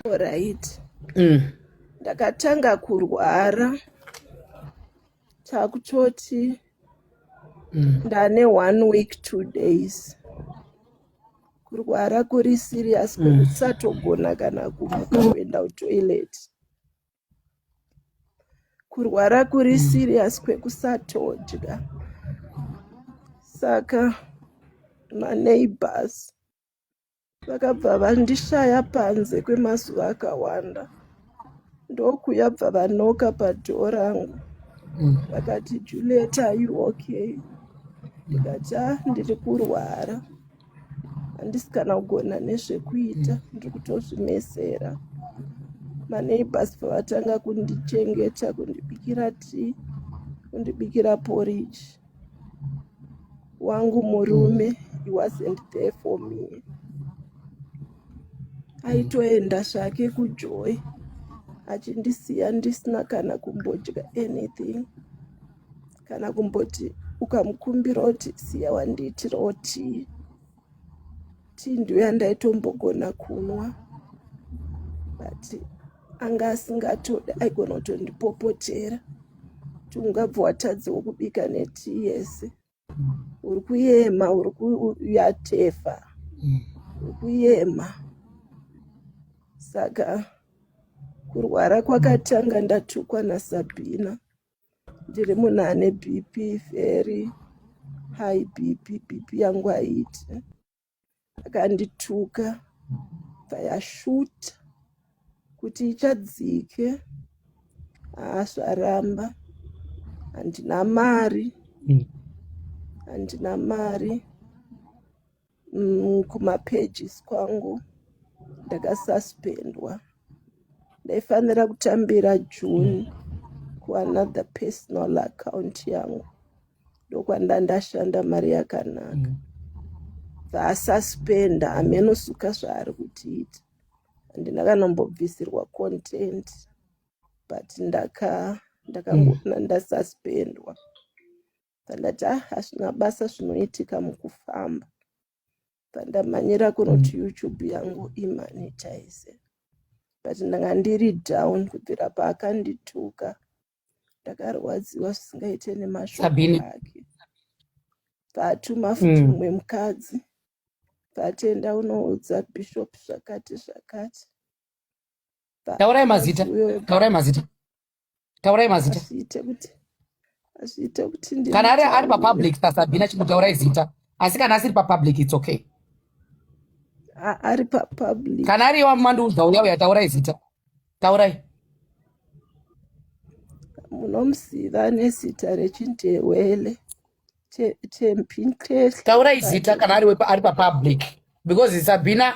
Alright. Mm. Ndakatanga kurwara takutoti Mm. ndane one week two days kurwara kuri serious Mm. kwekusatogona kana kumuka kuenda kutoilet kurwara kuri Mm. serious kwekusatodya saka maneighbors vakabva vandishaya panze kwemazuva akawanda ndokuya bva vanoka padhoo rangu mm. vakati juliet are you okay ndikati a ah, ndiri kurwara handisi kana kugona nezvekuita mm. ndiri kutozvimesera maneibhas pavatanga kundichengeta kundibikira tii kundibikira poriji wangu murume he wasn't there for me aitoenda zvake kujoy achindisiya ndisina kana kumbodya anything kana kumboti ukamukumbira kuti siya wandiitirawo tii tii ndiyo yandaitombogona kunwa but anga asingatode aigona kutondipopotera ti ungabva watadzewo kubika netii yese uri kuyema uri kuyatefa mm. uri kuyema saka kurwara kwakatanga ndatukwa nasabhina ndiri munhu ane bp very high bp bp yangu haiti akandituka payashuta kuti ichadzike haasvaramba handina mari handina mari Mm, kumapages kwangu ndakasuspendwa ndaifanira kutambira june kuanother personal account yangu ndokwanda ndashanda mari yakanaka mm. vaasuspenda hameno suka zvaari kutiita handina kanombobvisirwa content but ndaka ndakangona mm. ndasuspendwa pandati ah hazvina basa zvinoitika mukufamba pandamhanyira kunoti mm. youtube yangu imanitize but ndanga ndiri down kubvira paakandituka ndakarwadziwa zvisingaite nemashoko ake paatuma futi mm. mumwe mukadzi patenda unoudza bishop zvakati zvakati taurai mazita taurai mazita taurai mazita kana ari ari papublic pasabhina chimutaurai zita asi kana asiri papublic its okay ari papublic kana ari iwa mandiudza uya uya taurai zita taurai munomuziva nezita rechindewele tempintes taurai zita kana ari ari papublic because sabhina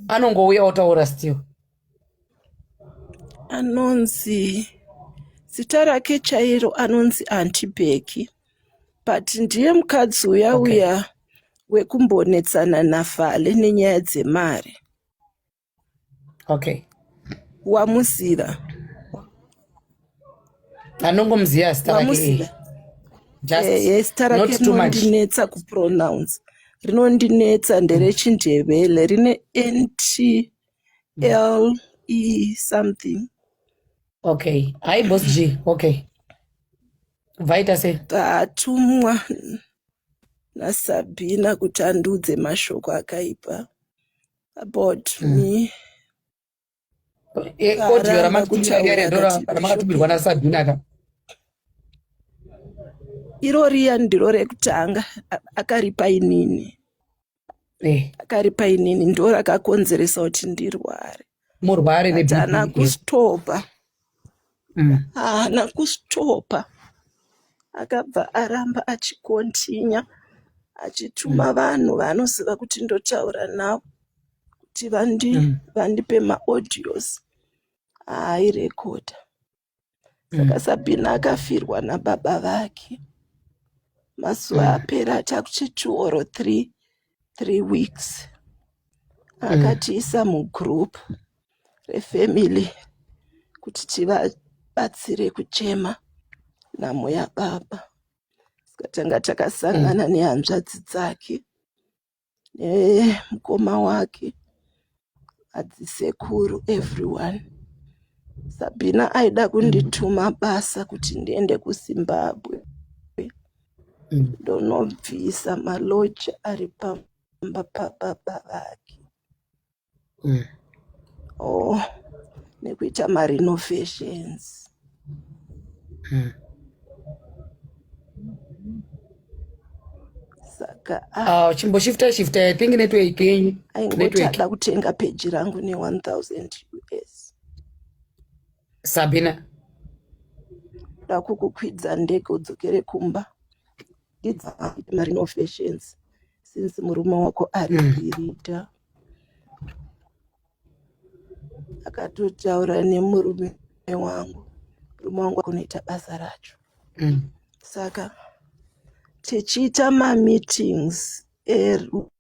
anongouya otaura still anonzi zita rake chairo anonzi antibeki but ndiye mukadzi uya okay. uya wekumbonetsana nafale nenyaya dzemari okay wamuziva anongomuziva zita rake rinondinetsa eh, eh, kupronounce rinondinetsa nderechindevele rine nt L E something. Okay. Hi boss G. Okay. Vaita se. Tatumwa na Sabina kuti andudze mashoko akaipa about mm. me. Eh, koti yara makutiwa yare ndora makatubirwa na Sabina ka. Iro riya ndiro rekutanga akaripa inini. Eh, akari painini ndo rakakonzeresa kuti ndirware murware But haana neBP. kustopa Mm. haana kustopa akabva aramba achikontinya achituma vanhu vaanoziva kuti ndotaura navo kuti vandi, Mm. vandipe maaudios aairekodha saka mm. sabhina akafirwa nababa vake mazuva mm. apera chakuti two or three three weeks mm. akatiisa mm. mugroup refamily kuti tivabatsire kuchema nhamo yababa saka tanga takasangana mm. nehanzvadzi dzake nemukoma wake adzisekuru everyone sabhina aida kundituma basa kuti ndiende kuzimbabwe ndonobvisa maloji ari pamba pababa vake mm. oh nekuita marenovations mm. saka ah. ah, chimboshifta shifta i think network yenyu aingotada kutenga peji rangu ne1000 us sabina ndakukukwidza ndege udzokere kumba ndidzapi marino fashions since murume wako ari kuirita mm. akatotaura nemurume wangu murume wangu akunoita basa racho mm. saka tichiita mameetings eru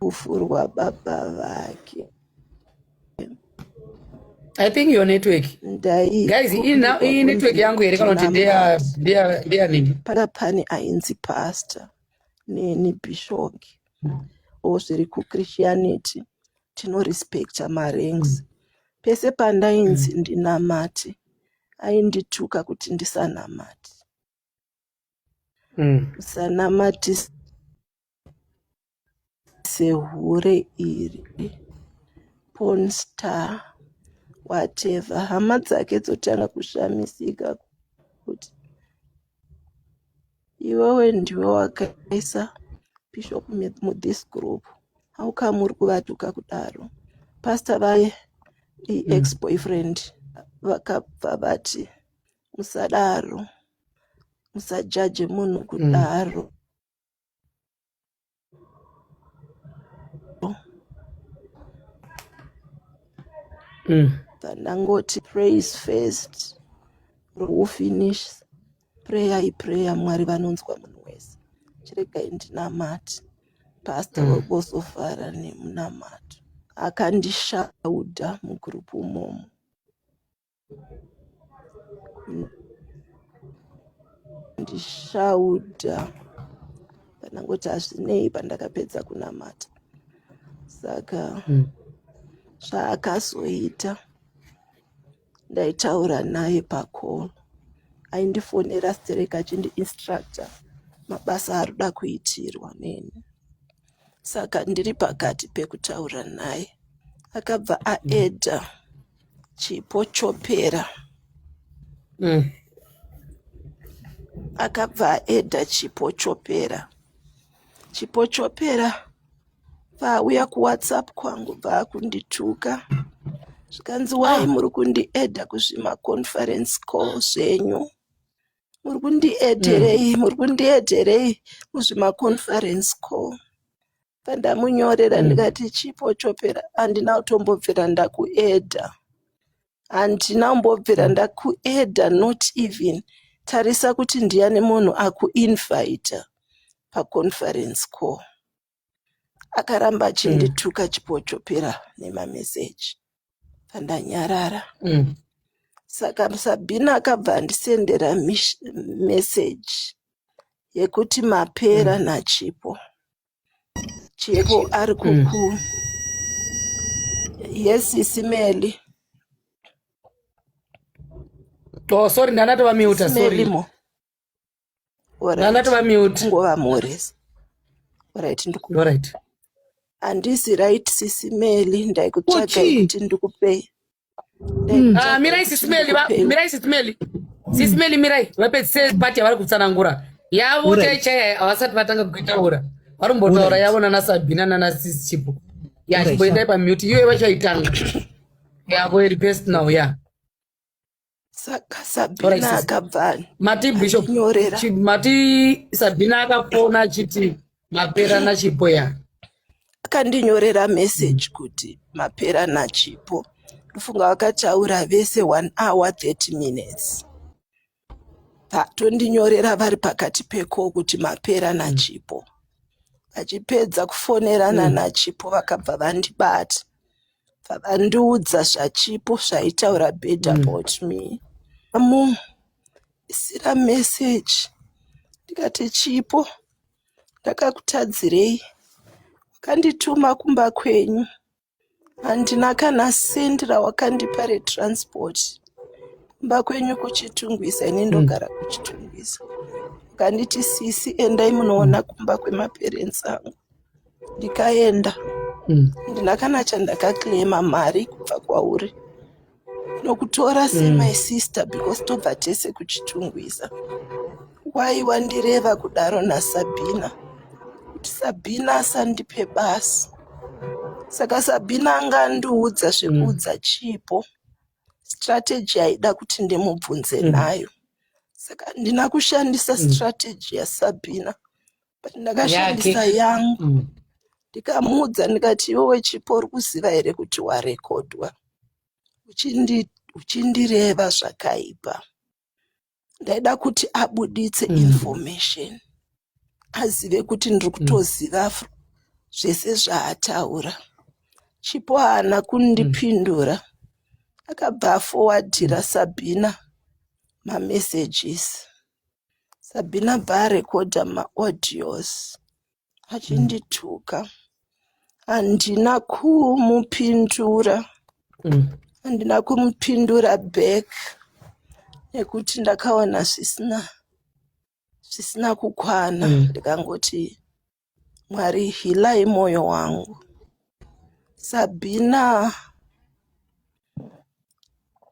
Rufu rwababa vake. I think your network. Ndai. Guys, iyi na- iyi network yangu here kana kuti ndeya ndeya ndeya nini? Pana pane ainzi pastor neni bishoki o zviri kuchristianity tinorespecta maranks pese pandainzi ndinamate aindituka kuti ndisanamate mm. musanamatise sehure iri porn star whatever hama dzake dzotanga kushamisika kuti iwewe ndiwe wakaisa bishop mu- mu this group how come uri kuvatuka kudaro pastor vaye i ex boyfriend vakabva vati musadaro musajaje munhu mm. kudaro mm. Mm. ndangoti praise first ro finish prayer iprayer mwari vanonzwa munhu wese chiregai ndinamati pastor mm. wekosofara nemunamato akandishauda mugurupu umomo ndishauda pandangoti hazvinei pandakapedza kunamata saka hmm. zvaakazoita ndaitaura naye pacall aindifonera sterek achindiinstructa mabasa arikuda kuitirwa neni saka ndiri pakati pekutaura naye akabva aeda mm. Chipo chopera. Mm. Akabva aedha chipo chopera. Chipo chopera paauya kuwhatsapp kwangu paakundituka zvikanzi wai muri kundiedha kuzvimaconference call zvenyu muri kundieterei mm. muri kundieterei kuzvimaconference co pandamunyorera mm. ndikati chipo chopera handina kutombobvira ndakuedha handina kumbobvira hmm. ndakuedha not even tarisa kuti ndiyani munhu akuinvita paconference co akaramba mm. achindituka achipochopera nemameseji pandanyarara mm. saka sabhina akabva andisendera meseji yekuti mapera mm. nachipo chipo ari kuku yes isimeli oh sorry ndanatova miuta sorry ndatova mute ngova mhoresa orit ndikuorit handisi right sisi meli ndaikutsvaga kuti ndikupei hmm. ah, mirai sisi meli mirai sisi meli sisi hmm. meli mirai vapedzise pati yavari kutsanangura yavo chaichai havasati vatanga kuitaura vari kumbotaura yavo nana sabina nana sisi chipo ya chimboendai pamute iyoyo vachaitanga yavo iri personal ya yeah. saka sabhina akabvani mati bishop mati sabhina akafona achiti mapera nachipo ya akandinyorera message kuti mapera nachipo ndofunga vakataura vese one hour 30 minutes patondinyorera vari pakati peko kuti mapera nachipo vachipedza kufonerana mm. nachipo vakabva vandibata Vakandiudza zvaChipo zvaitaura bad Mm. about me. Amu isira message ndikati Chipo ndakakutadzirei wakandituma kumba kwenyu handina kana send rawakandipa retransport kumba kwenyu kuchitungwiza ini Mm. ndogara kuchitungwiza ukanditi sisi endai munoona kumba kwemaparents angu ndikaenda mm. ndina kana chandakaclaima mari kubva kwauri nokutora mm. semai mm. sister because tobva tese kuchitungwiza wai wandireva kudaro nasabhina kuti sabhina asandipe basi saka sabhina anga andiudza zvekuudza mm. chipo strategy yaida kuti ndimubvunze mm. nayo saka ndina kushandisa mm. strategy yasabhina but ndakashandisa yangu mm. ndikamuudza ndikati iwewe chipo uri kuziva here kuti warekodwa uchindireva zvakaipa ndaida kuti abuditse mm. information azive kuti ndiri mm. kutoziva mm. zvese zvaataura chipo haana kundipindura mm akabva afowadhira sabhina mamessages Sabina baarekodha maaudios achindituka handina kumupindura Mm. handina kumupindura back nekuti ndakaona zvisina zvisina kukwana Mm. ndikangoti Mwari hilai moyo wangu. Sabina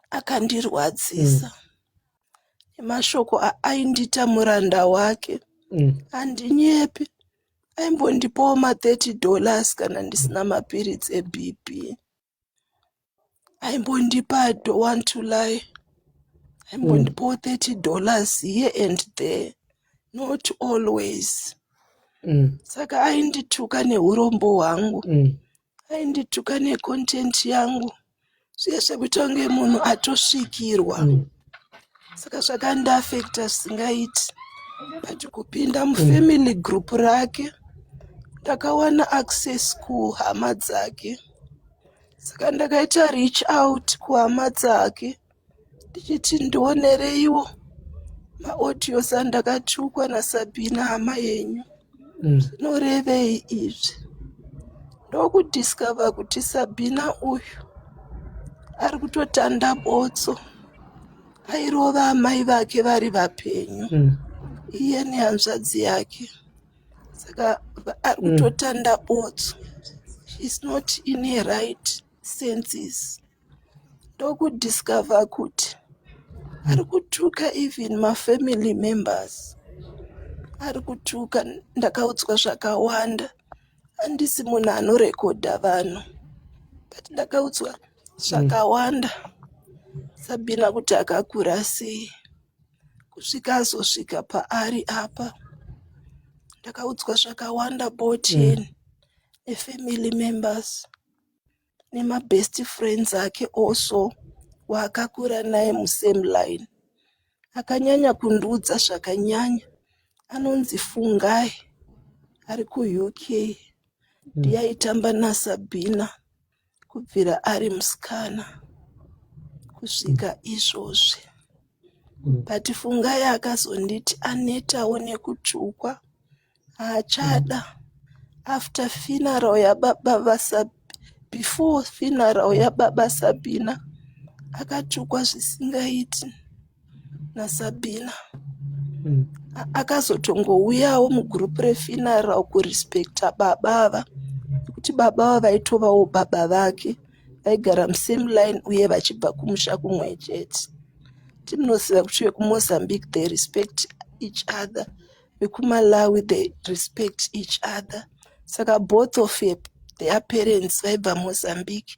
akandirwadzisa nemashoko aaindita muranda wake Mm. handinyepi aimbondipawo ma 30 dollars kana ndisina mapiritsi ebp aimbondipa i don't want to lie aimbondipawo 30 dollars here and there not always Mm. saka aindituka neurombo hwangu Mm. aindituka necontent yangu zviye zvekuita kunge munhu atosvikirwa Mm. saka zvakandiafekta zvisingaiti but kupinda mufamily group rake ndakawana access kuhama dzake saka ndakaita reach out kuhama dzake ndichiti ndionereiwo maaudios andakatukwa nasabhina hama yenyu mm. zvinorevei mm. izvi ndokudiscover kuti sabhina uyu ari kutotanda botso airova amai vake vari vapenyu mm. iye nehanzvadzi yake saka ari kutotanda botso she's not in her right senses ndokudiscover kuti ari kutuka even mafamily members ari kutuka ndakaudzwa zvakawanda handisi munhu anorekodha vanhu but ndakaudzwa zvakawanda sabina kuti akakura sei kusvika azosvika paari apa ndakaudzwa zvakawanda boten mm. nefamily members nemabest friends ake also waakakura naye musame line akanyanya kundiudza zvakanyanya anonzi fungai ari kuuk mm. ndiyaitamba nasabhina mm. kubvira ari musikana kusvika izvozvi but fungai akazonditi anetawo nekutsvukwa haachada after funeral yababa vasab before funeral yababa sabina akatsvukwa zvisingaiti nasabina mm. akazotongouyawo mugroup refinara kurespecta baba ava nekuti baba ava vaitovawo baba vake vaigara musame line uye vachibva kumusha kumwe chete timunoziva kuti vekumozambique they respect each other vekumalawi they respect each other saka both of their parents vaibva mozambique